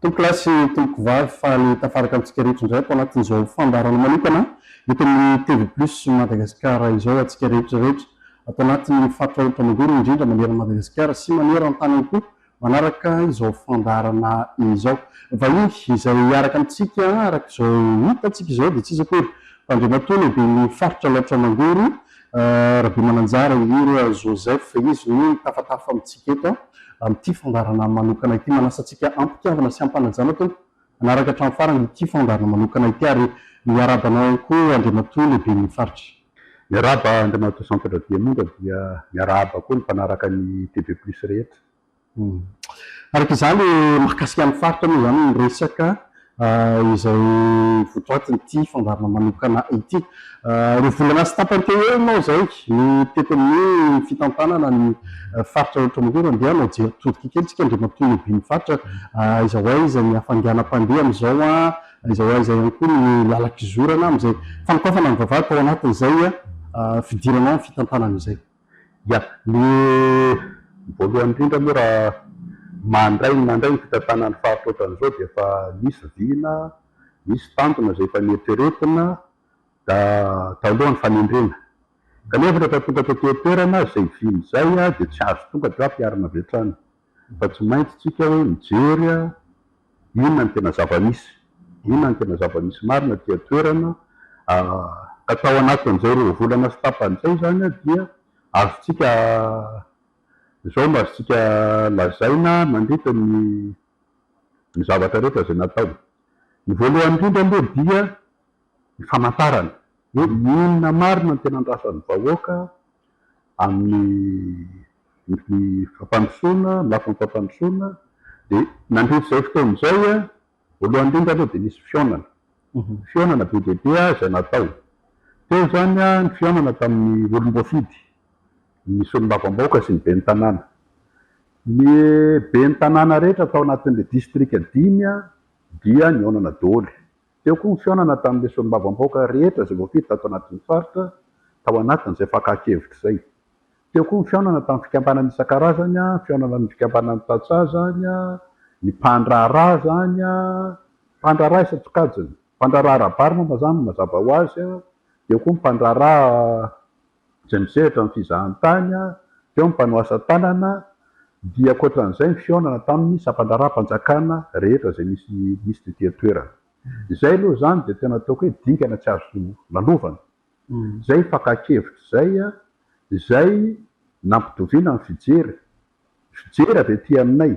Tompokolahy sy tompokovavy, faly tafaraka amintsika rehetra indray ato anatin'izao fandaharana manokana eto amin'ny TV Plus Madagascar izao antsika rehetra rehetra ato anatin'ny faritra Aonitra Mangoro indrindra maneran'i Madagasikara sy maneran-tany ihany koa manaraka izao fandaharana izao. Vahiny izay hiaraka amintsika araka izao hitantsika izao dia tsy iza akory fa Andriamatoa Lehiben'ny Faritra Alaotra Mangoro Rabemananjara Indrindra Joseph, izy no mitafatafa amintsika eto amin'ity fandaharana manokana ity. Manasa antsika am-pitiavana sy am-panajana Tompo hanaraka hatramin'ny farany ity fandaharana manokana ity ary miarahaba anao ihany koa Andriamatoa Lehiben'ny Faritra. Miarahaba Andriamatoa Jean Pedro Diamondra dia miarahaba koa ny mpanaraka ny TV Plus rehetra. Araka izany, mahakasika ny faritra moa izany ny resaka izay votoatin'ity fandaharana manokana ity. Roa volana sy tapany teo ho eo moa izay no tety amin'ny fitantanana ny faritra rehetra maneran dia hanao jery todika kely isika Andriamatoa Lehiben'ny faritra, aiza ho aiza ny hafainganam-pandeha amin'izao, aiza ho aiza ihany koa ny lalan-kizorana amin'izay fanokafana ny vavahady tao anatin'izay fidirana ao amin'ny fitantanana izay. Ya, ny voalohany indrindra moa raha mandray ny mandray ny fitantanana ny faritra ohatran'izao dia efa misy vina, misy tanjona izay efa neritreretina talohan'ny fanendrena. Kanefa rehefa tonga taty an-toerana izay vina izay dia tsy azo tonga dia ampiharina avy hatrany. Efa tsy maintsy tsika hoe mijery inona no tena zava-misy, inona no tena zava-misy marina aty an-toerana. Ka tao anatin'izay roa volana sy tapany izay izany dia azontsika, izao no azontsika lazaina mandritra ny ny zavatra rehetra izay natao. Ny voalohany indrindra aloha dia ny famantarana hoe inona marina no tena andrasan'ny vahoaka amin'ny fampandrosoana, amin'ny lafiny fampandrosoana. Dia nandritra izay fotoana izay, voalohany indrindra aloha dia nisy fihaonana. Fihaonana be dia be izay natao. Teo izany ny fihaonana tamin'ny olom-boafidy, ny solombavambahoaka sy ny ben'ny tanàna. Ny ben'ny tanàna rehetra tao anatin'ilay distrika dimy dia nihaonana daholo. Teo koa ny fihaonana tamin'ireo solombavambahoaka rehetra izay voafidy tato anatin'ny faritra, tao anatin'izay fakan-kevitra izay. Teo koa ny fihaonana tamin'ny fikambanana isan-karazany, fihaonana amin'ny fikambanan'ny tantsaha izany, ny mpandraharaha izany, mpandraharaha isan-tsokajiny, mpandraharaha ara-bary moa mazàna no mazava ho azy, dia eo koa ny mpandraharaha. izay misehatra amin'ny fizahantany, teo ny mpanao asa tanana, dia ankoatran'izay ny fihaonana tamin'ny sampan-draharaham-panjakana rehetra izay nisy nisy tety an-toerana. Izay aloha izany dia tena ataoko hoe dingana tsy azo lalovana. Izay fakan-kevitra izay, izay nampitoviana ny fijery, fijery avy aty aminay.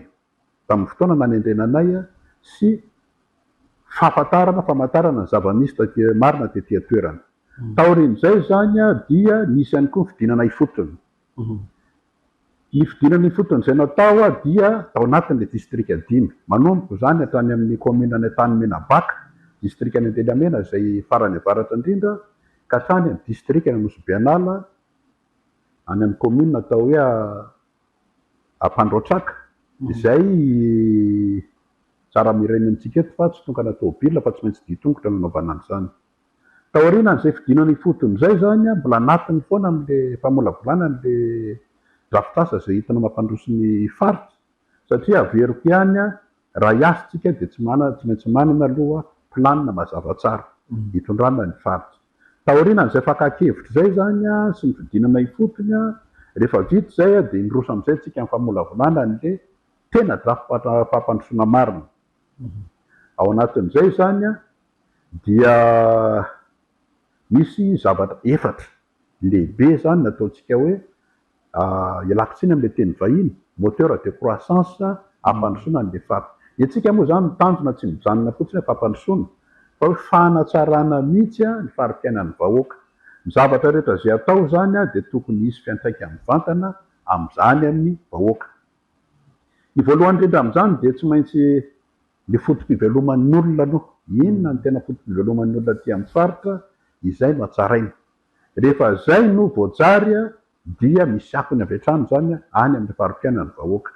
tamin'ny fotoana nanendrena anay sy fahafantarana, famantarana ny zava-misy taty marina tety an-toerana. Taorian'izay izany dia nisy ihany koa ny fidinana ifotony. Ny fidinana ifotony izay natao dia tao anatin'ilay distrika dimy, manomboka izany hatrany amin'ny kaominina any Antanimena-Baka, distrikan'i Antelamena izay farany avaratra indrindra, ka hatrany amin'ny distrikan'Anosibe-An'ala, any amin'ny kaominina atao hoe. Ampandrotraka, izay tsara miraina amintsika eto fa tsy tokana tomobilina fa tsy maintsy dihy tongotra no anaovana an'izany. Taorian'izay fidinana ifotony izay izany, mbola anatiny foana amin'ilay famolavolana an'ilay drafitrasa izay entina mampandroso ny faritra satria averiko ihany raha hiasa isika dia tsy maintsy manana aloha planina mazava tsara hitondrana ny faritra. Taorian'izay fakan-kevitra izay izany sy ny fidinana ifotony, rehefa vita izay dia niroso amin'izay isika nifamolavolana an'le tena drafi-pampandrosoana marina. Ao anatin'izay izany dia misy zavatra efatra lehibe izany nataontsika hoe ialako tsiny amin'ilay teny vahiny, moteur de croissance, hampandrosoana ny lefafa. Ny antsika moa izany ny tanjona tsy mijanona fotsiny hoe fampandrosoana fa hoe fanatsarana mihitsy ny fari-piainan'ny vahoaka. Ny zavatra rehetra izay atao izany dia tokony hisy fiantraikany mivantana amin'izany amin'ny vahoaka. Ny voalohany indrindra amin'izany dia tsy maintsy ny foto-piveloman'ny olona aloha. Inona no tena foto-piveloman'ny olona aty amin'ny faritra? Izay no hatsaraina. Rehefa zay no voajary dia misy akony avy hatrany zany any amin'ny fari-piainan'ny vahoaka.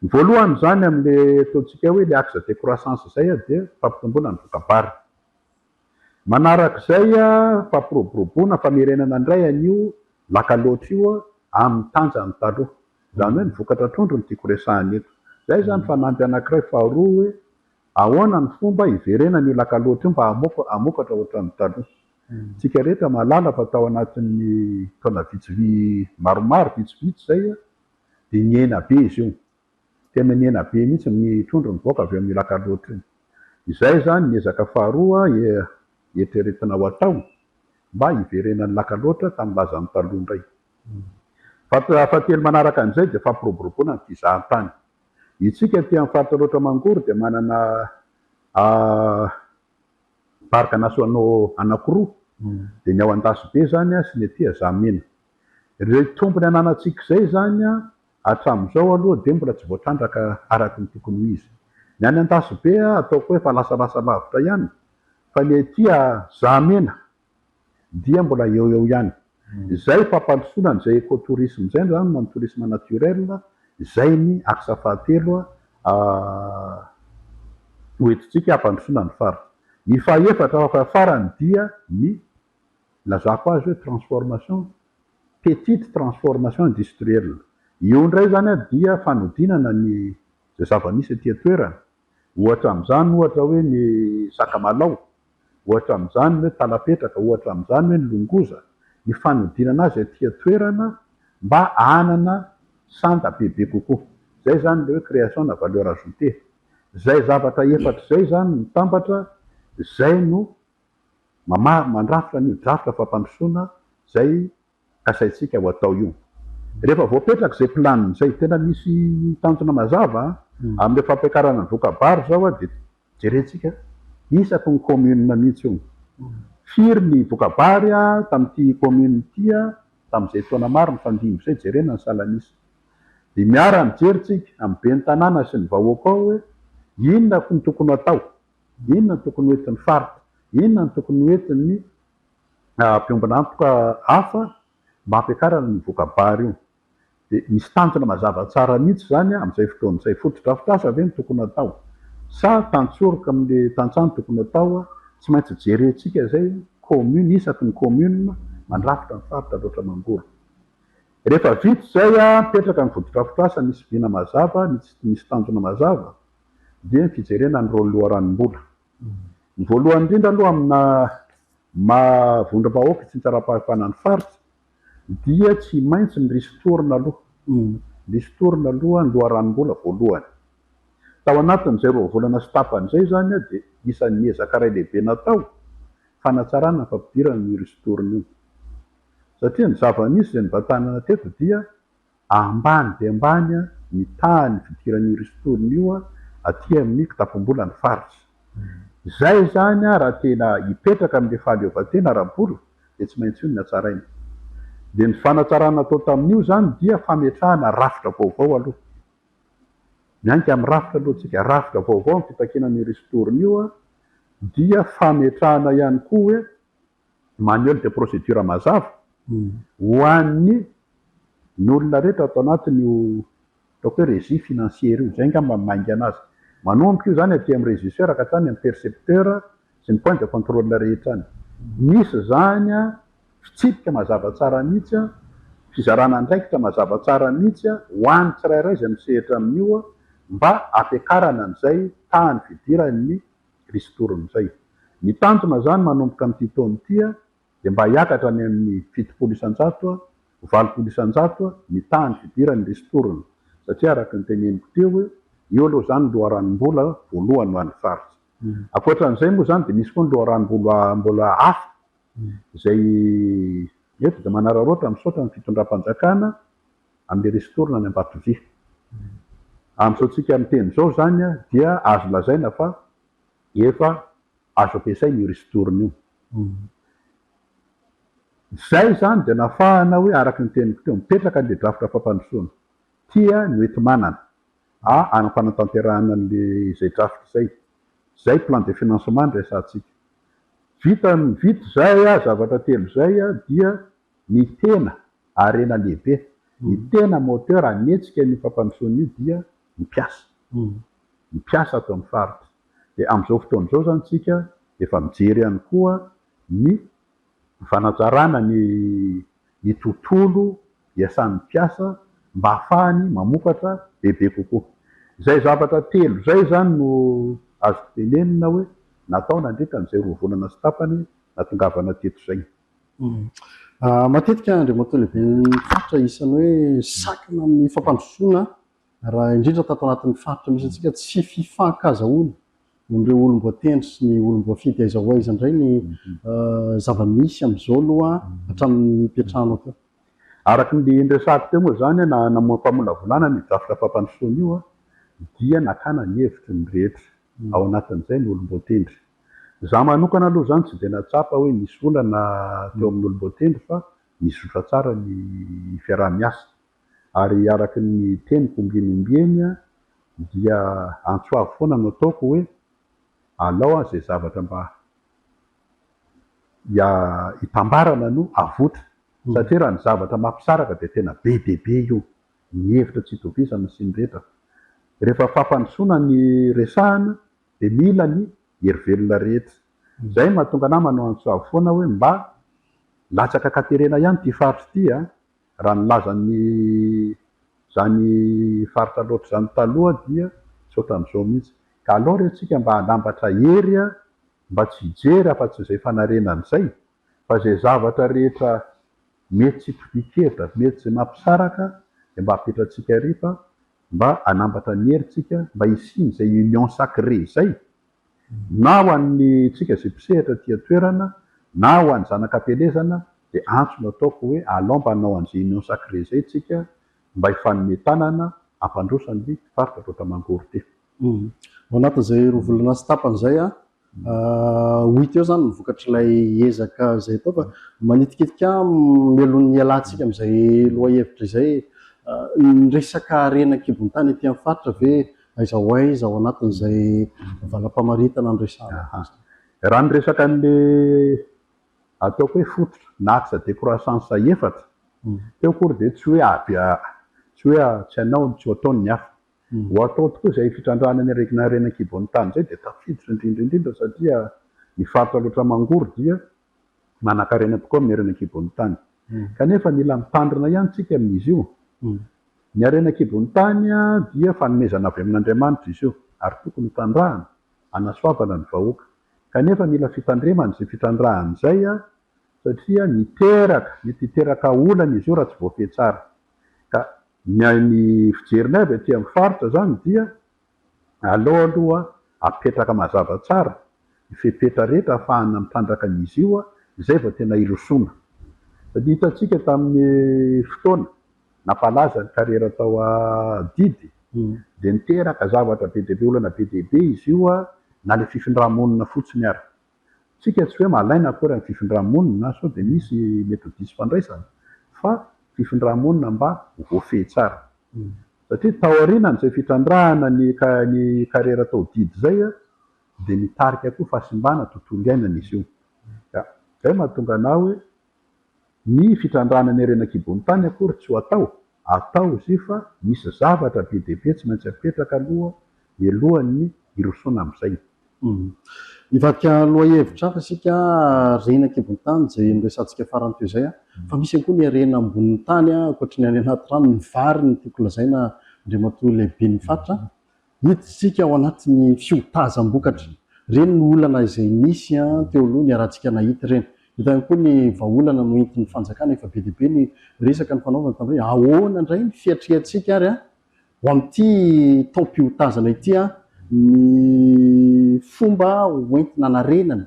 Ny voalohany zany amin'le ataontsika hoe le axe de croissance zay dia fampitomboana ny voka-bariny. Manarak'izay fampiroboroboana, famerenana indray an'io laka loatra io amin'ny tanjany taloha. Zany hoe ny vokatra trondro no tiako resahina eto. Zay zany fanamby anakiray faharoa hoe ahoana ny fomba hiverenan'io laka loatra io mba hamokatra ohatran'ny taloha. Tsika rehetra mahalala fa tao anatin'ny taona vitsivy maromaro vitsivitsy izay dia nihena be izy io. Tena nihena be mihitsy ny trondro nivoaka avy eo amin'io lac Alotro io. Izay izany ny ezaka faharoa eritreretina ho atao mba hiverenan'ny lac Alotro tamin'ny lazany taloha indray. Faritra fahatelo manaraka an'izay dia fampiroboroboana ny fizahantany. Itsika aty amin'ny faritra Alaotra Mangoro dia manana Parc nationaux anakiroa, dia ny ao Andasibe izany sy ny ety Azamena. Ireo tombony ananantsika izay izany hatramin'izao aloha dia mbola tsy voatrandraka araka ny tokony ho izy. Ny any Andasibe ataoko hoe efa lasalasa lavitra ihany, fa ny ety Azamena dia mbola eo eo ihany izay fampandrosoana an'izay eco-tourisme izay izany na ny tourisme naturel izay ny axe fahatelo ho entintsika hampandrosoana ny faritra. Ny fahaefatra fa farany dia ny ilazako azy hoe transformation petite transformation industrielle. Io indray izany dia fanodinana ny izay zava-misy aty an-toerana. Ohatra amin'izany ohatra hoe ny sakamalaho. ohatra amin'izany ny hoe talapetraka, ohatra amin'izany ny hoe ny longoza, ny fanodinana azy aty an-toerana mba hanana sanda bebe kokoa. Izay izany ilay hoe création na valeur ajoutée. Izay zavatra efatra izay izany mitambatra izay no mama-mandrafitra an'io drafitra fampandrosoana izay kasaintsika ho atao io. Rehefa voapetraka izay planina izay, tena misy tanjona mazava amin'ilay fampiakarana ny voka-bary izao dia jerentsika isaky ny commune mihitsy io. Firy ny voka-bary tamin'ity commune ity tamin'izay taona maro nifandimby izay, jerena ny salan'isa. Dia miara-mijery tsika amin'ny ben'ny tanàna sy ny vahoaka ao hoe inona no tokony ho atao, inona no tokony ho entin'ny faritra, inona no tokony ho entin'ny. Miombon'antoka hafa mba hampiakarana io voka-bary io. Dia misy tanjona mazava tsara mihitsy izany amin'izay fotoana izay. Fotodrafitrasa ve no tokony atao sa tantsoroka amin'ilay tantsaha no tokony atao? Tsy maintsy jerentsika izay commune isaky ny commune mandrafitra ny faritra loatra mangoro. Rehefa vita izay, mipetraka ny fotodrafitrasa misy vina mazava, misy tanjona mazava, dia ny fijerena ny rôle loharanom-bola. Ny voalohany indrindra aloha amina maha vondrom-bahoaka sy tsaram-pahefana ny faritra dia tsy maintsy ny ristourne aloha, ristourne aloha ny loharanom-bola voalohany. Tao anatin'izay roa volana sy tapany izay izany dia isan'ny ezaka iray lehibe natao fanatsarana ny fampidirana an'io ristourne io. Satria ny zava-nisy izay nivantanana teto dia Ambany dia ambany ny tahan'ny fidiran'io ristourne io aty amin'ny kitapom-bolan'ny faritra. Izay izany raha tena hipetraka amin'ilay fahaleovantena ara-bola dia tsy maintsy io no hatsaraina. Dia ny fanatsarana natao tamin'io izany dia fametrahana rafitra vaovao aloha. Miainga amin'ny rafitra aloha isika. Rafitra vaovao ny fitakiana an'io ristourne io dia fametrahana ihany koa hoe manuel de procédure mazava ho an'ny ny olona rehetra ato anatin'io ataoko hoe régie financière io. Izay angamba no maingana azy. Manomboka io izany aty amin'ny régisseur ka hatrany amin'ny percepteur sy ny point de contrôle rehetra any. Misy izany fitsipika mazava tsara mihitsy, fizarana andraikitra mazava tsara mihitsy ho an'ny tsirairay izay misehatra amin'io mba hampiakarana an'izay tahan'ny fidiran'ny Kristoron'izay. Ny tanjona izany manomboka amin'ity taona ity dia mba hiakatra any amin'ny fitopolo isan-jato, valopolo isan-jato ny tahan'ny fidiran'ny Ristoron'ny satria araka ny teneniko teo, io aloha izany ny loharanom-bola voalohany ho an'ny faritra. Ankoatran'izay moa izany dia misy koa ny loharanom-bola mbola hafa izay eto dia manararaotra misaotra ny fitondram-panjakana amin'ny Ristourne any Ambatovia. Amin'izao tsika miteny izao izany dia azo lazaina fa efa azo ampiasaina io Ristourne io. Izay izany dia nafahana hoe araka ny teniko teo, mipetraka an'ilay drafitra fampandrosoana. Tia ny hoenti-manana a any am-panatanterahana an'ilay izay drafitra izay. Izay plan de financement no resahantsika. Vita ny vita izay zavatra telo izay dia Ny tena, harena lehibe, ny tena moteur hanetsika an'io fampandrosoana io dia ny mpiasa. Ny mpiasa ato amin'ny faritra. Dia amin'izao fotoana izao izany isika efa mijery ihany koa ny fanatsarana ny ny tontolo iasan'ny mpiasa mba hahafahany mamokatra bebe kokoa. Izay zavatra telo izay izany no azoko tenenina hoe natao nandritra an'izay roa volana sy tapany nahatongavana teto izay. Matetika Andriamatoa Lehiben'ny Faritra isan'ny hoe sakana amin'ny fampandrosoana raha indrindra tato anatin'ny Faritra misy antsika tsy fifankazahoana amin'ireo olom-boatendry sy ny olom-boafidy aiza ho aiza indray ny zava-misy amin'izao aloha hatramin'ny nipetrahanao teo? Araka ny niresahako teo moa izany na namoaham-pamolavolana ny drafitra fampandrosoana io dia nakana ny hevitry ny rehetra, ao anatin'izay ny olom-boatendry. Za manokana aloha zany tsy dia nahatsapa hoe nisy olana teo amin'olom-boatendry fa nizotra tsara ny fiaraha-miasa. Ary araka ny teniko ombieny ombieny dia antso avo foana no ataoko hoe alao izay zavatra mba hitambarana no avotra satria raha ny zavatra mampisaraka dia tena be dia be io, ny hevitra tsy itovizana sy ny rehetra. Rehefa fampandrosoana ny resahana dia mila ny hery velona rehetra. Izay no mahatonga anah manao antsoavo foana hoe mba latsaka katerena ihany ity faritra ity a! Raha ny lazan'ny izany faritra loatra izany taloha dia tsy ohatran'izao mihitsy. Ka aleo re tsika mba hanambatra hery a! Mba tsy hijery afa-tsy izay fanarenana izay fa izay zavatra rehetra mety tsy topin-kevitra, mety izay mampisaraka dia mba apetratsika ary fa mba hanambatra ny herintsika mba hisian'izay union sacrée izay na ho an'ny tsika izay mpisehatra aty an-toerana na ho an'ny zanak'ampielezana dia antso no ataoko hoe alao mba hanao an'izay union sacrée izay tsika mba hifanome tanana hampandroso an'ny faritra Aotra Mangorite. Ao anatin'izay roa volana sy tapany izay Ho hita eo izany ny vokatr'ilay ezaka izay atao fa manitikitika mialoha ny hialantsika amin'izay lohahevitra izay e. Ny resaka harena an-kibon-tany aty amin'ny faritra ve aiza ho aiza ao anatin'izay valam-pamaritana no resahana azy? Raha ny resaka an'ilay ataoko hoe fototra na axe de croissance efatra teo akory dia tsy hoe avy tsy hoe tsy hanao ny tsy ho ataon'ny hafa. Ho atao tokoa izay fitrandrahana ny aretina harena an-kiboan'ny tany izay dia tafiditra indrindra indrindra satria ny faritra loatra mangory dia manankarena tokoa amin'ny harena an-kiboan'ny tany. Kanefa mila mitandrina ihany isika amin'izy io. Ny harena an-kiboan'ny tany dia fanomezana avy amin'Andriamanitra izy io ary tokony ho trandrahana hanasoavana ny vahoaka. Kanefa mila fitandremana izay fitrandrahana izay satria miteraka, mety hiteraka olana izy io raha tsy voafehy tsara ka Ny ahy ny fijerinay avy aty amin'ny faritra zany dia aleo aloha apetraka mazava tsara ny fepetra rehetra ahafahana mitrandraka an'izy io izay vao tena hirosoana. Satria hitantsika tamin'ny fotoana nampalaza ny karera tao adidy dia niteraka zavatra be dia be olana be dia be izy io na ilay fifindra-monina fotsiny ary. Tsika tsy hoe malaina akory ny fifindra-monina na sao dia misy mety ho diso fandraisana fa fifindra-monina mba ho voafehy tsara. Satria taorianan'izay fitrandrahana ny ny kariera atao didy izay dia mitarika koa fahasimbana tontolo iainana izy io. Ka izay no mahatonga anah hoe. Ny fitrandrahana ny harena an-kibon'ny tany akory tsy ho atao, atao izy io fa misy zavatra be dia be tsy maintsy apetraka aloha mialohan'ny hirosoana amin'izay. Hivadika lohahevitra hafa isika harena an-kibon'ny tany izay noresahantsika farany teo izay fa misy ihany koa ny harena ambonin'ny tany ankoatry ny any anaty rano, ny vary no tiako lazaina Andriamatoa Lehiben'ny Fatra Hita isika ao anatin'ny fiotazam-bokatra. Ireny no olana izay nisy teo aloha niarahantsika nahita ireny. Hita ihany koa ny vahaolana noentin'ny fanjakana. Efa be dia be ny resaka nifanaovana tamin'ireny hoe ahoana indray ny fiatriantsika ary ho amin'ity taom-piotazana ity ny fomba hoentina hanarenana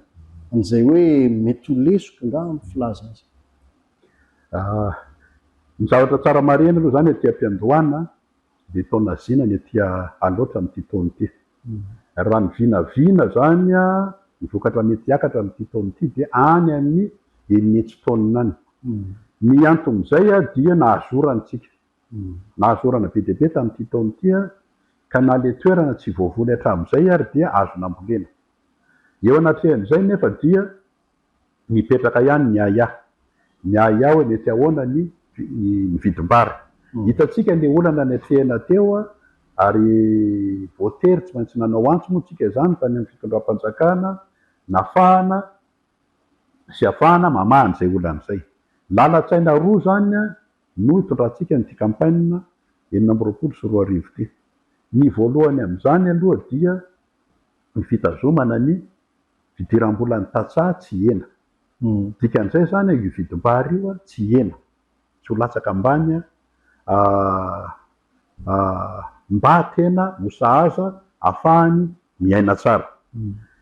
an'izay hoe mety ho lesoka angaha ny filaza azy. Ny zavatra tsara marihina aloha izany aty am-piandohana dia tao Nazina ny aty Alaotra amin'ity taona ity. Raha ny vinavina izany, ny vokatra mety hiakatra amin'ity taona ity dia any amin'ny enina hetsy tonnes any. Ny anton'izay dia nahazo orana isika. Nahazo orana be dia be tamin'ity taona ity ka na ilay toerana tsy voavoly hatramin'izay ary dia azo nambolena. Eo anatrehan'izay nefa dia. Nipetraka ihany ny Yaya. Ny Yaya hoe mety ahoana ny ny vidim-bary. Hitantsika le olana niatrehina teo ary voatery tsy maintsy nanao antso moa tsika izany tany amin'ny fitondram-panjakana nafahana sy afahana mamaha an'izay olana izay. Lalan-tsaina roa izany no itondrantsika an'ity campagne enina amby roapolo sy roa arivo ity. Ny voalohany amin'izany aloha dia ny fitazomana ny Fidiram-bola ny tantsaha tsy hihena. Dikan'izay izany io vidim-bary io tsy hihena, tsy ho latsaka ambany mba tena ho sahaza afahany miaina tsara.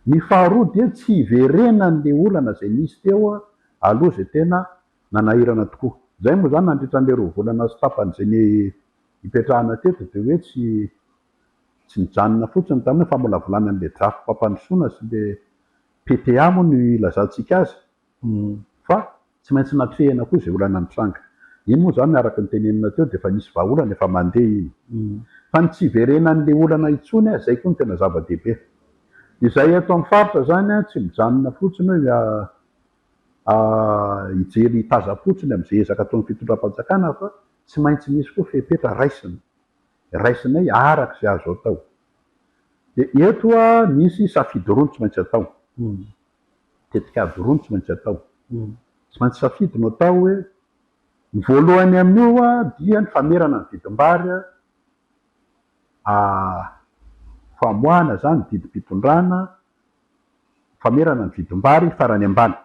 Ny faharoa dia tsy hiverenan'ilay olana izay nisy teo aloha izay tena nanahirana tokoa. Izay moa izany nandritra an'ilay roa volana sy tapany izay nipetrahana teto dia hoe tsy Tsy nijanona fotsiny tamin'io famolavolana an'ilay drafi-pampandrosoana sy ilay PTA moa no ilazantsika azy fa tsy maintsy natrehina koa izay olana nitranga. Iny moa izany araka ny tenenina teo dia efa nisy vahaolana efa mandeha iny. Fa ny tsy hiverenan'ilay olana intsony izay koa no tena zava-dehibe. Izahay eto amin'ny faritra izany tsy mijanona fotsiny hoe hijery hitazam-potsiny amin'izay ezaka ataon'ny fitondram-panjakana fa tsy maintsy misy koa fepetra raisina. raisinay araka izay azo atao. Dia eto misy safidy roa no tsy maintsy atao, tetikady roa no tsy maintsy atao. Tsy maintsy safidy no atao hoe, ny voalohany amin'io dia ny famerana ny vidim-bary, famoahana izany ny didim-pitondrana, famerana ny vidim-bary farany ambany.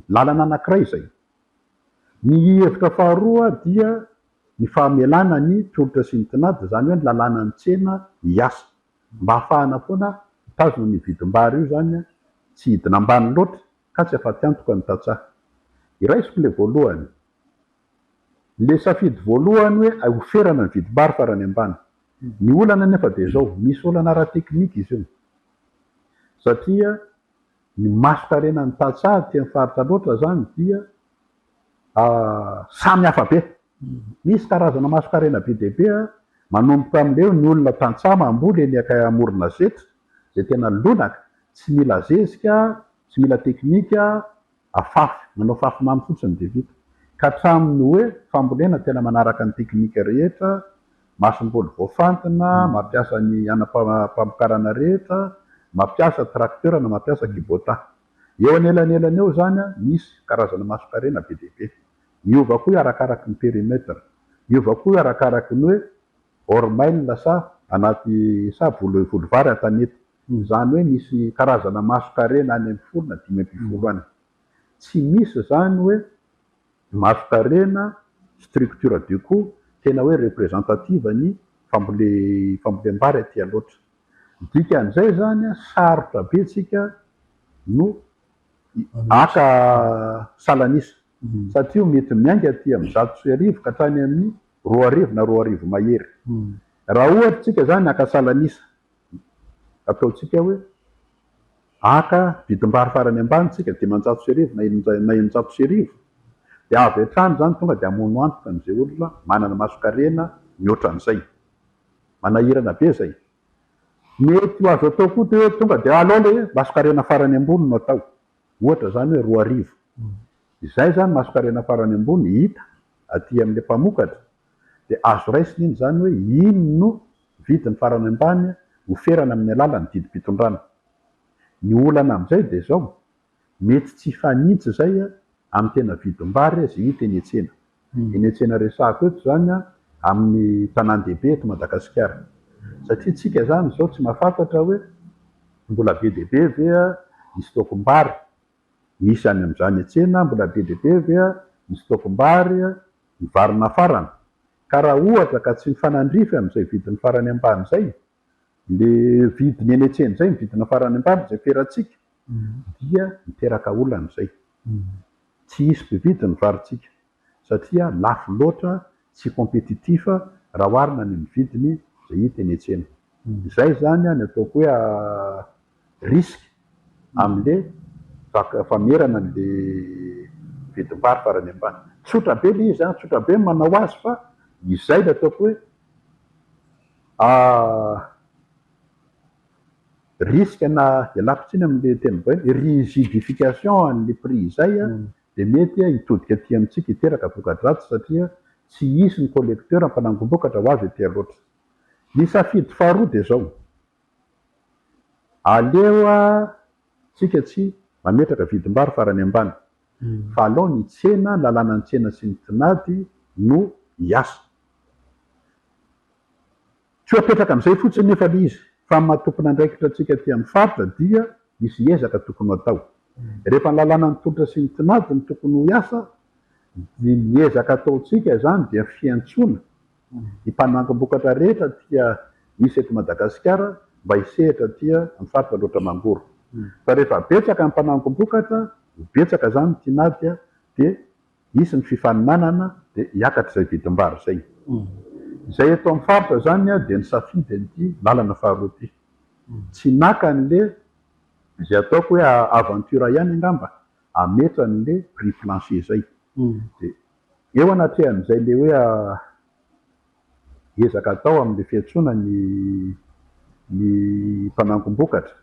Lalana anankiray izay. Ny hevitra faharoa dia ny fahamelana ny tolotra sy ny tinady, izany hoe ny lalànan'ny tsena hiasa. Mba hahafahana foana mitazona an'io vidim-bary io izany, tsy hidina ambany loatra ka tsy afa-tiantoka ny tantsaha. Iraisiko ilay voalohany, ilay safidy voalohany hoe hioferana ny vidim-bary farany ambany. Ny olana anefa dia izao, misy olana ara-teknika izy io satria Ny maso tarenan'ny tantsaha aty amin'ny faritra loatra izany dia samy hafa be. Misy karazana mason-karena be dia be, manomboka amin'ireo ny olona tantsaha mamboly eny akay amorona zetra izay tena lonaka, tsy mila zezika, tsy mila teknika, Afafy, manao fafy mamy fotsiny dia vita. Ka hatramin'ny hoe fambolena tena manaraka ny teknika rehetra, masomboly voafantina, mampiasa ny anam-pamokarana rehetra, mampiasa tracteur na mampiasa Kubota. Eo anelanelany eo izany misy karazana masonkarena be dia be. Miova koa io arakaraky ny perimètre. Miova koa io arakaraky ny hoe hors mail sa anaty sa volovary an-tanety. Izany hoe misy karazana mason-karena any amin'ny folo na dimy ambinifolo any. Tsy misy izany hoe mason-karena, structure de cou, tena hoe representative ny fambolem-bary aty Alaotra. Ny dikan'izay izany, sarotra be isika no haka salan'isa, satria mety miainga aty amin'ny zato sy arivo ka hatrany amin'ny roa arivo na roa arivo mahery. Raha ohatra isika izany haka salan'isa, ataontsika hoe haka vidim-bary farany ambany isika dimanjato sy arivo na eninjato sy arivo dia avy hatrany izany tonga dia hamono antoka an'izay olona manana masonkarena mihoatra an'izay. Manahirana be izay. Mety ho azo atao koa dia hoe tonga dia alao ilay masonkarena farany ambony no atao. Ohatra izany hoe roa arivo. Izay izany masonkarena farany ambony hita aty amin'ilay mpamokatra dia azo raisina iny izany hoe iny no vidiny farany ambany oferana amin'ny alalan'ny didim-pitondrana. Ny olana amin'izay dia izao, mety tsy hifanintsy izay amin'ny tena vidim-bary azy hita eny an-tsena. Eny an-tsena resahako eto izany amin'ny tanàn-dehibe eto Madagasikara. Satria isika izany izao tsy mahafantatra hoe mbola be dia be ve ny stock-m-bary. Misy any amin'izany tsena mbola be dia be ve ny stock-mbary ny vary nafarana? Ka raha ohatra ka tsy mifanandrify amin'izay vidiny farany ambany izay, le vidiny eny an-tsena izay ny vidiny farany ambany izay feratsika, dia miteraka olana izay. Tsy hisy mpividy ny varintsika. satria lafo loatra, tsy compétitif raha oharina ny amin'ny vidiny izay hita eny an-tsena. Izay izany no ataoko hoe risque amin'ilay vaky famerana an'ilay vidim-pary farany ambany. Tsotra be ilay izy, tsotra be ny manao azy fa izay ilay ataoko hoe risque na ialako tsiny amin'ilay teny vahiny, rigidification an'ilay prix izay dia mety hitodika aty amintsika hiteraka voka-dratsy satria tsy hisy ny collecteur mpanangom-bokatra ho avy aty loatra. Ny safidy faharoa dia izao, aleo tsika tsy mametraka vidim-bary farany ambany fa alao ny tsena, ny lalànan'ny tsena sy ny tinady no hiasa. Tsy ho apetraka amin'izay fotsiny nefa ilay izy fa amin'ny maha tompon'andraikitra antsika aty amin'ny faritra dia misy ezaka tokony ho atao. Rehefa ny lalàna ny tolotra sy ny tinady no tokony ho hiasa dia ny ezaka ataontsika izany dia fiantsoana ny mpanangom-bokatra rehetra aty misy eto Madagasikara mba hisehatra aty amin'ny faritra loatra mangoro fa rehefa betsaka ny mpanangom-bokatra ho betsaka izany ny tinady dia hisy ny fifaninanana dia hiakatra izay vidim-bary izay. Izay eto amin'ny faritra izany dia nisafidy an'ity lalana faharoa ity. Tsy naka an'le izay ataoko hoe aventure ihany angamba hametra an'le prix plancher izay. Dia eo anatrehan'izay le hoe. ezaka atao amin'ny fiantsoana ny ny mpanangom-bokatra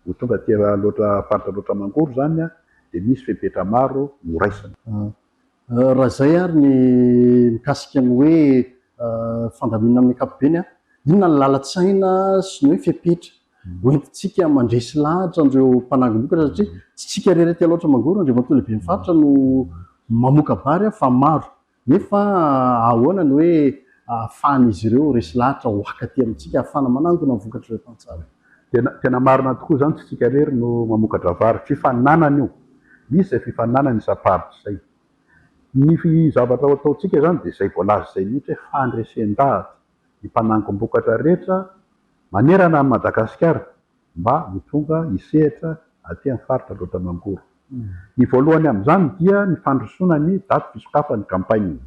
ho tonga aty Alaotra faritra Alaotra Mangoro izany dia misy fepetra maro noraisina. Raha izay ary ny mikasika ny hoe fandaminana amin'ny ankapobeny an, inona ny lalan-tsaina sy ny hoe fepetra hoentintsika mandresy lahatra an'ireo mpanangom-bokatra satria tsy isika irery aty Alaotra Mangoro, Andriamatoa Lehiben'ny Faritra no mamoka-bary fa maro Nefa ahoana ny hoe ahafahan'izy ireo resy lahatra ho haka aty amintsika, ahafahana manangona ny vokatr'ireo tantsaha? Tena, tena marina tokoa izany, tsy isika irery no mamokatra vary. Fifaninanana io. Misy izay fifaninanana isam-paritra izay. Ny zavatra ho ataontsika izany dia izay voalaza izay mihitsy hoe fandresen-dahatra, ny mpanangom-bokatra rehetra manerana an'i Madagasikara, mba ho tonga hisehatra aty amin'ny faritra loatra Mangoro. Ny voalohany amin'izany dia ny fandrosoana ny daty fisokafan'ny campagne.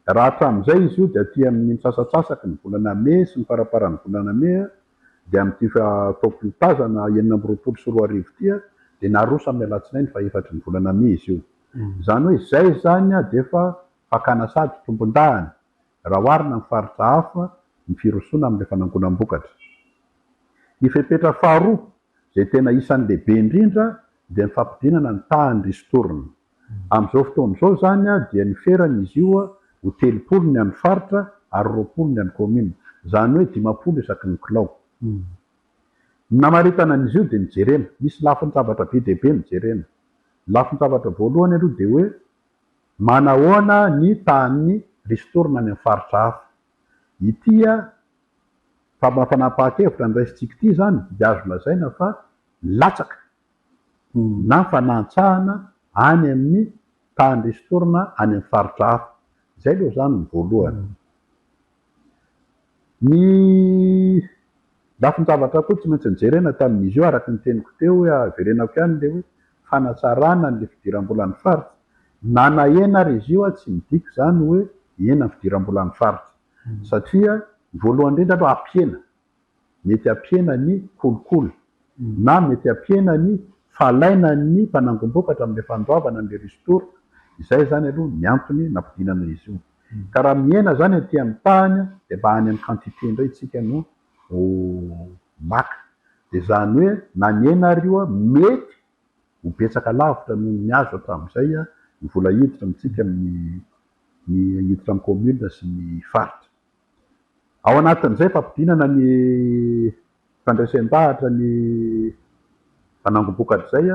Raha hatramin'izay izy io dia aty amin'ny misasatsasaky ny volana mey sy ny faraparan'ny volana mey dia amin'ity fotoam-polo tazana enina amby roapolo sy roa arivo ity dia naroso amin'ny alatsinainy fahefatry ny volana mey izy io. Izany hoe izay izany dia efa fakana sady tompondahana. raha oharina amin'ny faritra hafa ny firosoana amin'ilay fanangonam-bokatra. Ny fepetra faharoa, izay tena isan'ny lehibe indrindra, dia ny fampidinana ny tahan'ny ristourne. Amin'izao fotoana izao izany dia niferany izy io ho telopolo ny an'ny faritra ary roapolo ny an'ny kaominina, izany hoe dimampolo isaky ny kilao. Ny namaritana an'izy io dia nijerena, misy lafin-javatra be dia be nojerena. Ny lafin-javatra voalohany aloha dia hoe. Manahoana ny tahan'ny ristourne any amin'ny faritra hafa? Ity fanapahan-kevitra noraisintsika ity izany dia azo lazaina fa nilatsaka na fanantsahana any amin'ny tahan'ny ristourne any amin'ny faritra hafa. Izay aloha izany ny voalohany. Ny lafin-javatra koa tsy maintsy nojerena tamin'izy io araka ny teniko teo hoe haverenako ihany ilay hoe fanatsarana an'ilay fidiram-bolan'ny faritra. Na nahena ary izy io aho tsy midika izany hoe hihena ny fidiram-bolan'ny faritra satria voalohany indrindra aloha hampihena mety hampihena ny kolikoly na mety hampihena ny fahalainan'ny mpanangom-bokatra amin'ilay fandoavana an'ilay ristourne. Izay izany aloha ny antony nampidinana izy io. Ka raha mihena izany aty amin'ny tahany dia mba any amin'ny quantité indray isika no ho maka. Dia izany hoe na nihena ary io mety ho betsaka lavitra noho ny azo hatramin'izay ny vola hiditra amintsika amin'ny ny hiditra amin'ny commune sy ny faritra. Ao anatin'izay fampidinana ny fandresen-dahatra ny fanangom-bokatra izay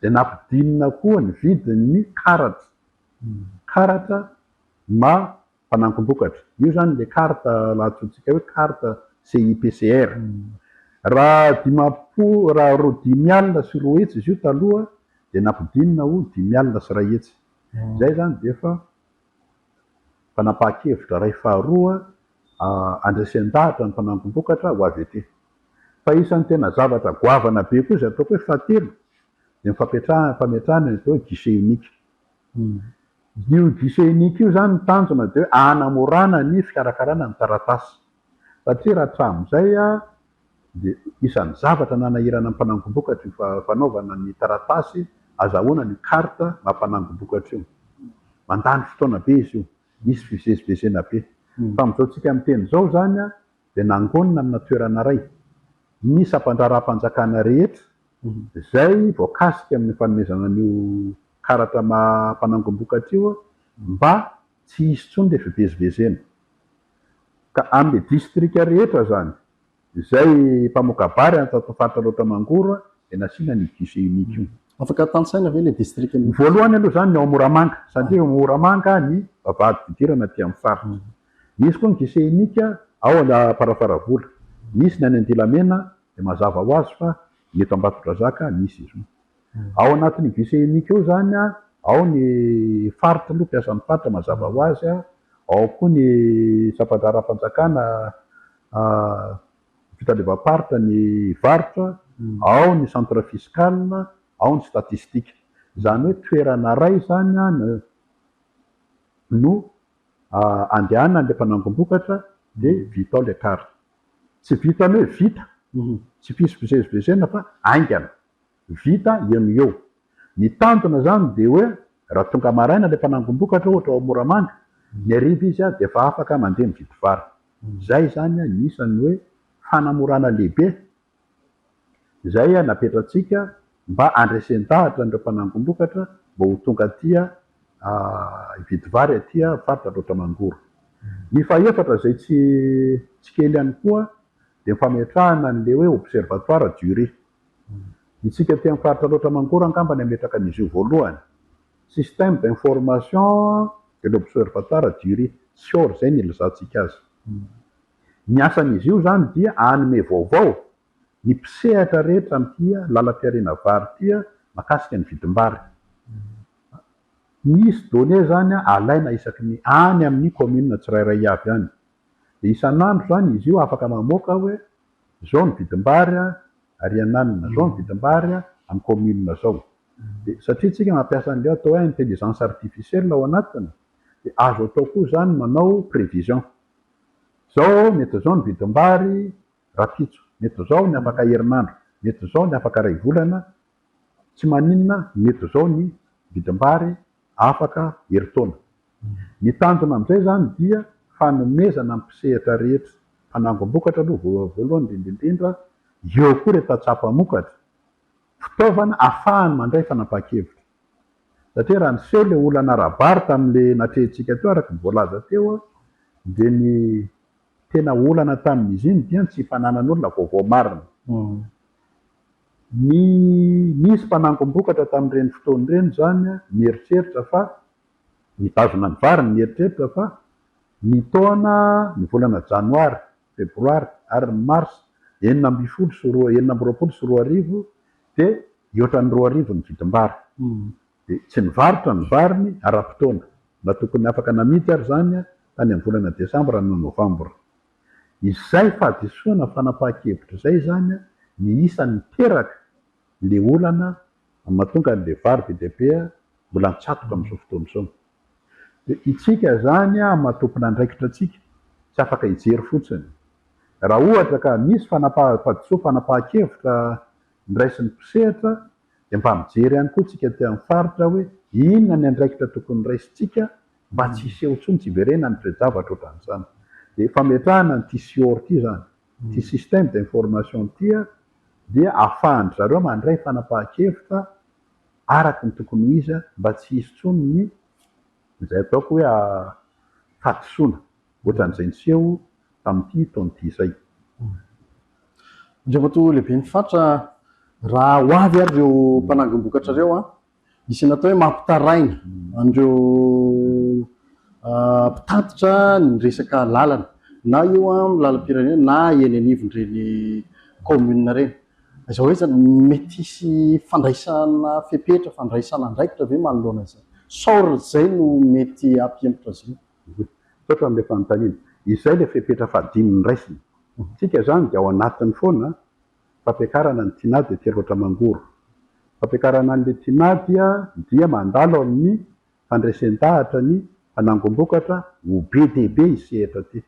dia nampidinina koa ny vidin'ny karatra, karatra ma fanangom-bokatra. Io izany ilay carte lahatsoantsika hoe carte CIPCR. Raha dimampolo, raha roa dimy alina sy roa hetsy izy io taloha dia nampidinina ho dimy alina sy iray hetsy. Izay izany dia efa Fanapahan-kevitra iray faharoa handresen-dahatra ny mpanangom-bokatra ho avy ety. Fa isan'ny tena zavatra goavana be koa izay ataoko hoe fahatelo dia ny fampiatrahana, fametrahana ny atao hoe guichet unique. Io guichet unique io izany ny tanjona dia hoe hanamorana ny fikarakarana ny taratasy. satria raha hatramin'izay dia isan'ny zavatra nanahirana ny mpanangombokatra io fanaovana ny taratasy azahoana ny carte maha mpanangombokatra io. Mandany fotoana be izy io, misy fivezivezena be. Fa amin'izao tsika miteny izao izany dia nangonina amina toerana iray ny sampandraharaham-panjakana rehetra izay voakasika amin'ny fanomezana an'io karatra maha mpanangombokatra io mba tsy hisy intsony ilay fivezivezena. ka amin'ny distrika rehetra izany, izay mpamoka-bary any tato faritra Alaotra Mangoro dia nasiana an'io guichet unique io. Afaka tantsaina ve ilay distrika mihitsy? Voalohany aloha izany ny ao Moramanga, satria ao Moramanga ny vavahady fidirana aty amin'ny faritra. Misy koa ny guichet unique ao Amparafaravola, misy ny any Andilamena, dia mazava ho azy fa ny eto Ambatondrazaka misy izy io. Ao anatin'io vice unique io izany an, ao ny faritra aloha, mpiasan'ny faritra mazava ho azy an, ao koa ny sampandraharaham-panjakana fitandrevam-paritra ny varotra, ao ny centre fiscal, ao ny statistique. Izany hoe toerana iray izany an no andehanan'ilay mpanangom-bokatra dia vita ao ilay kara. Tsy vitan'ny hoe vita, tsy fivezivezena fa haingana. Vita eo no eo. Ny tanjona izany dia hoe raha tonga maraina ilay mpanangon-dokatra ohatra ao Moramanga, ny hariva izy dia efa afaka mandeha mividy vary. Izay izany ny isan'ny hoe fanamorana lehibe izay napetratsika mba handresen-dahatra an'ireo mpanangon-dokatra mba ho tonga aty hividy vary aty faritra Alaotra Mangoro. Ny fahefatra izay tsy kely ihany koa dia ny fametrahana an'ilay hoe observatoire du riz. Isika aty amin'ny faritra Alaotra Mangoro angamba ny hametraka an'izy io voalohany. Système d'information de l'observatoire du riz, SIOR, izay no ilazantsika azy. Ny asan'izy io izany dia hanome vaovao ny mpisehatra rehetra amin'ity lalam-piariana vary ity mahakasika ny vidim-bary. Misy données izany alaina isaky ny any amin'ny commune tsirairay avy any. dia isan'andro izany izy io afaka mamoaka hoe izao ny vidim-bary ary iananina izao ny vidim-bary amin'ny commune izao dia satria isika mampiasa an'ilay atao hoe intelligence artificielle ao anatiny dia azo atao koa izany manao prévision izao mety izao ny vidim-bary rapitso mety izao ny afaka herinandro mety izao ny afaka iray volana tsy maninona mety izao ny vidim-bary afaka herintaona. Ny tanjona amin'izay izany dia fanomezana ny mpisehatra rehetra, mpanangom-bokatra aloha voalohany indrindra indrindra, eo koa ireo tantsaha mpamokatra, fitaovana ahafahany mandray fanapahan-kevitra. Satria raha niseho ilay olana ara-bary tamin'ilay natrehintsika teo araka ny voalaza teo, dia ny tena olana tamin'izy iny dia ny tsy fananan'olona vaovao marina. Ny nisy mpanangom-bokatra tamin'ireny fotoana ireny izany nieritreritra fa, nitazona ny variny nieritreritra fa, ny taona, ny volana Janoary, Febroary ary ny Marsa enina ambin'ny folo sy roa, enina amby roapolo sy roa arivo dia hihoatra ny roa arivo ny vidim-bary. Dia tsy nivarotra ny variny ara-potoana, na tokony afaka namidy ary izany tany amin'ny volana Desambra na Novambra. Izay fahadisoana fanapahan-kevitra izay izany ny isany miteraka le olana mahatonga anle vary be dia be mbola an-tsatoka amin'izao fotoana izao. Dia itsika izany maha tompon'andraikitra antsika tsy afaka hijery fotsiny. Raha ohatra ka misy fanapaha-fahadisoa fanapahan-kevitra ndraisin'ny mpisehatra Dia mba mijery ihany koa tsika aty amin'ny faritra hoe inona ny andraikitra tokony raisintsika mba tsy hiseho intsony, tsy hiverena ny toe-javatra ohatran'izany. Dia fametrahana an'ity CIOR ity izany, ity système d'information ity dia ahafahan-dry zareo mandray fanapahan-kevitra araka ny tokony ho izy mba tsy hisy intsony ny izay ataoko hoe fahadisoana. ohatran'izay niseho tamin'ity taona ity izay. Andriamatoa Lehiben'ny Faritra, raha ho avy ary ireo mpanangom-bokatra ireo an, misy ny atao hoe mampitaraina an'ireo mpitatitra ny resaka lalana, na io amin'ny lalam-pirenena na eny anivon'ireny kaominina ireny. Aiza ho aiza no mety hisy fandraisana fepetra, fandraisana andraikitra ve manoloana izany? Sao izay no mety hampihemotra azy ireo? Misaotra amin'ilay fanontaniana. Izay ilay fepetra fahadimy noraisina. Tsika izany dia ao anatiny foana fampiakarana ny tinady dia telo ohatra mangoro. Fampiakarana an'ilay tinady dia mandalo amin'ny fandresen-dahatra ny fanangom-bokatra ho be dia be ity sehatra ity.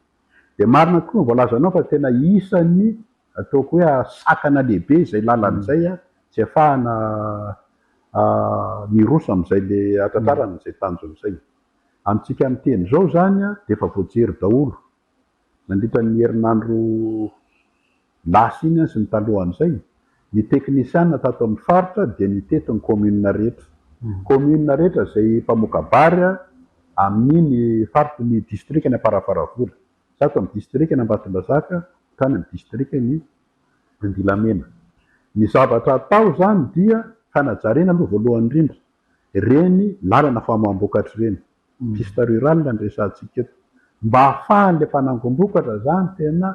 Dia marina tokoa ny voalazanao fa tena isan'ny ataoko hoe sakana lehibe izay lalana izay tsy afahana miroso amin'izay le hatratrarana izay tanjona izay. Amintsika miteny izao izany dia efa voajery daholo nandritra ny herinandro lasa iny sy ny talohan'izay. Ny teknisiana tato amin'ny faritra dia nitety ny kaominina rehetra. Kaominina rehetra izay mpamoka-bary amin'iny faritry ny distrikan'i Amparafaravola, zato amin'ny distrikan'i Ambatondrazaka hatrany amin'ny distrikan'i Andilamena. Ny zavatra atao izany dia fanajariana aloha voalohany indrindra. Ireny lalana famoaham-bokatra ireny, piste rurale no resahantsika eto. Mba hahafahan'ilay mpanangom-bokatra izany tena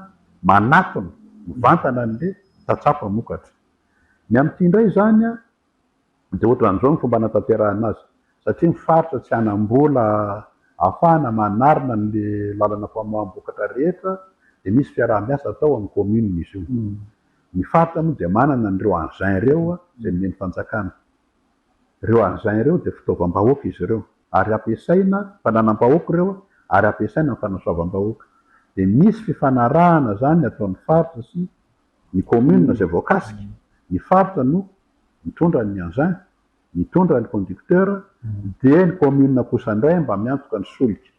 manatona, mivantana an'ilay tantsaha mpamokatra. Ny amin'ity indray izany dia ohatran'izao ny fomba hanatanterahana azy, satria ny faritra tsy hanam-bola ahafahana manarina an'ilay lalana famoaham-bokatra rehetra dia misy fiaraha-miasa atao amin'ny commune izy io. Ny faritra moa dia manana an'ireo engins ireo izay nomen'ny fanjakana. Ireo arzain ireo dia fitaovam-bahoaka izy ireo ary ampiasaina fananam-bahoaka ireo ary ampiasaina amin'ny fanasoavam-bahoaka. Dia misy fifanarahana izany ataon'ny faritra sy ny commune izay voakasika, ny faritra no mitondra ny engin, mitondra ny conducteur dia ny commune kosa indray mba miantoka ny solika.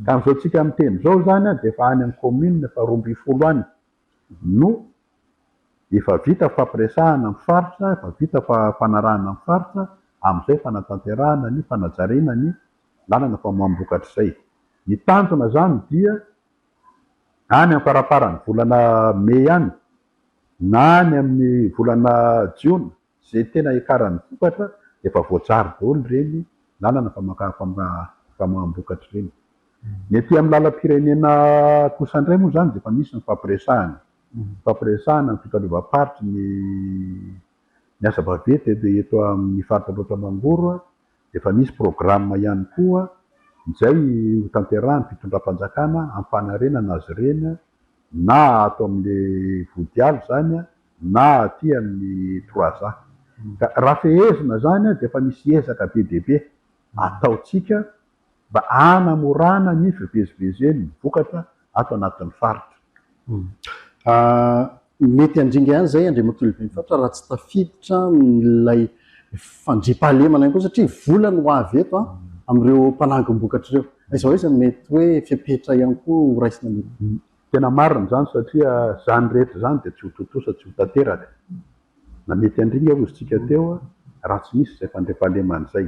Ka amin'izao tsika miteny izao izany dia efa any amin'ny commune faharoambinifolo any. no efa vita fampiresahana amin'ny faritra, efa vita fanarahana ny faritra, amin'izay fanatanterahana ny fanajariana ny lalana famoaham-bokatra izay. Ny tanjona izany dia any amin'ny faramparan'ny volana mey any na any amin'ny volana jiona Izay tena hiakaran'ny vokatra dia efa voajary daholo ireny lalana famoaham-bokatra ireny. Ny aty amin'ny lalam-pirenena kosa indray moa izany dia efa misy ny fampiresahana. Fampiresahana ny fitaleovam-paritry ny ny asa vaventy eto amin'ny faritra Ambohitrao Mangoro. Efa misy programa ihany koa izay hotanterahin'ny fitondram-panjakana hampanarenana azy ireny na ato amin'ilay Vodialo izany na aty amin'ny Trois A. Ka raha fehezina izany dia efa misy ezaka be dia be ataontsika mba hanamorana ny fivezivezen'ny vokatra ato anatin'ny faritra. Mety handringa ihany izay Andriamatoa Lehiben'ny faritra raha tsy tafiditra ilay fandriampahalemana ihany koa satria vola no avy eto amin'ireo mpanangom-bokatra ireo. Aiza ho aiza no mety hoe fepetra ihany koa ho raisina mety? Tena marina izany satria izany rehetra izany dia tsy ho tontosa, tsy ho tanteraka na mety handringa hoy izy tsika teo raha tsy misy izay fandriampahalemana izay.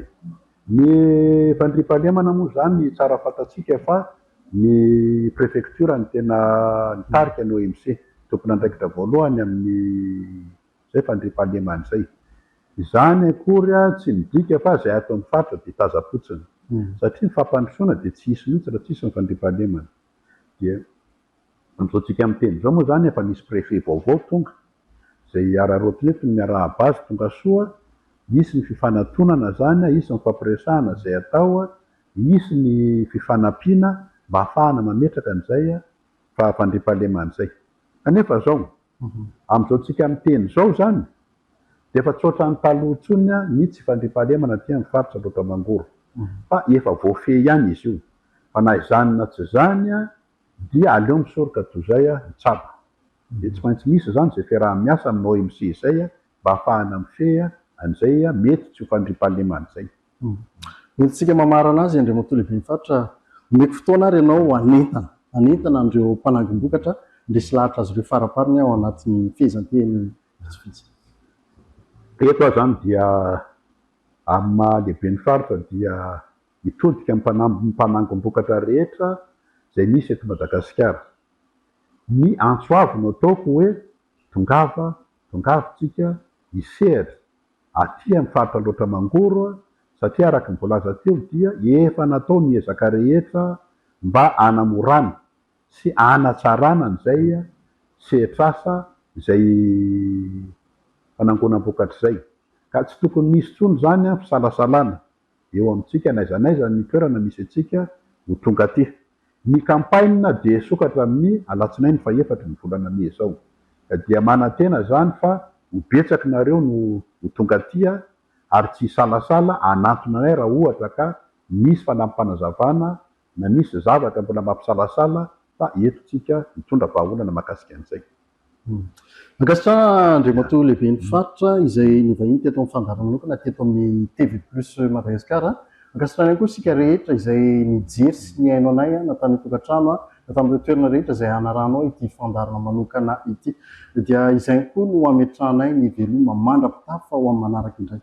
Ny fandriampahalemana moa izany tsara fantatsika fa ny prefecture no tena nitarika ny OMC, tompon'andraikitra voalohany amin'izay fandriampahalemana izay. Izany akory tsy midika fa izay ato amin'ny faritra dia taza-potsiny, satria ny fampandrosoana dia tsy hisy mihitsy raha tsy hisy ny fandriampahalemana. Dia. Amin'izao tsika miteny izao moa izany efa nisy préfet vaovao tonga. Izay hiararaoty eto ny miarahaba azy tonga soa, hisy ny fifanatonana izany, hisy ny fampiresahana izay atao, hisy ny fifanampiana mba hafahana mametraka an'izay fa fandriampahalemana izay. Kanefa izao, amin'izao tsika miteny izao izany dia efa tsy ohatran'ny taloha intsony ny tsy fandriampahalemana aty amin'ny faritra Ambohitrao Mangoro fa efa voafehy ihany izy io fa na izany na tsy izany Dia aleo misoroka toy izay a, i Tsabo. Dia tsy maintsy misy izany izay fiaraha-miasa amin'ny OMC izay a, mba ahafahana mifehy a, an'izay a, mety tsy ho fandriampahalemana izay. Entintsika mamarana azy, Andriamatoa Lehiben'ny Faritra, omeko fotoana ary ianao hanentana, hanentana an'ireo mpanangom-bokatra, ny resy lahatra azy ireo farapariny ao anatin'ny fehezanteny vitsivitsy. Eto aho izany dia amin'ny maha Lehiben'ny Faritra dia mitodika ny mpanambin'ny mpanangom-bokatra rehetra izay misy eto Madagasikara. Ny antso avo no ataoko hoe tongava, tongava tsika hisehatra aty amin'ny faritra Alaotra Mangoro satria araka ny voalaza teo dia efa natao ny ezaka rehetra mba hanamorana sy hanatsarana an'izay sehatr'asa izay fanangonam-bokatra izay ka tsy tokony hisy intsony izany fisalasalana. eo amintsika n'aiza n'aiza ny toerana misy antsika ho tonga aty. Ny campagne dia hisokatra amin'ny alatsinainy fahefatry ny volana mey izao. Ka dia manantena izany fa ho betsak nareo no ho tonga aty ary tsy hisalasala hanantona anay raha ohatra ka misy fanapanazavana na misy zavatra mbola mampisalasala fa eto tsika mitondra vahaolana mahakasika an'izay. Mankasitra Andriamatoa Lehiben'ny Faritra izay nivahiny teto amin'ny fandaharan'olona teto amin'ny TV Plus Madagascar. Mankasitra ihany koa isika rehetra izay nijery sy nihaino anay na tany an-tokantrano na tamin'ireo toerana rehetra izay hanarahanao ity fandaharana manokana ity. Dia izay ihany koa no hametrahanay ny veloma mandra-pitafa ho amin'ny manaraka indray.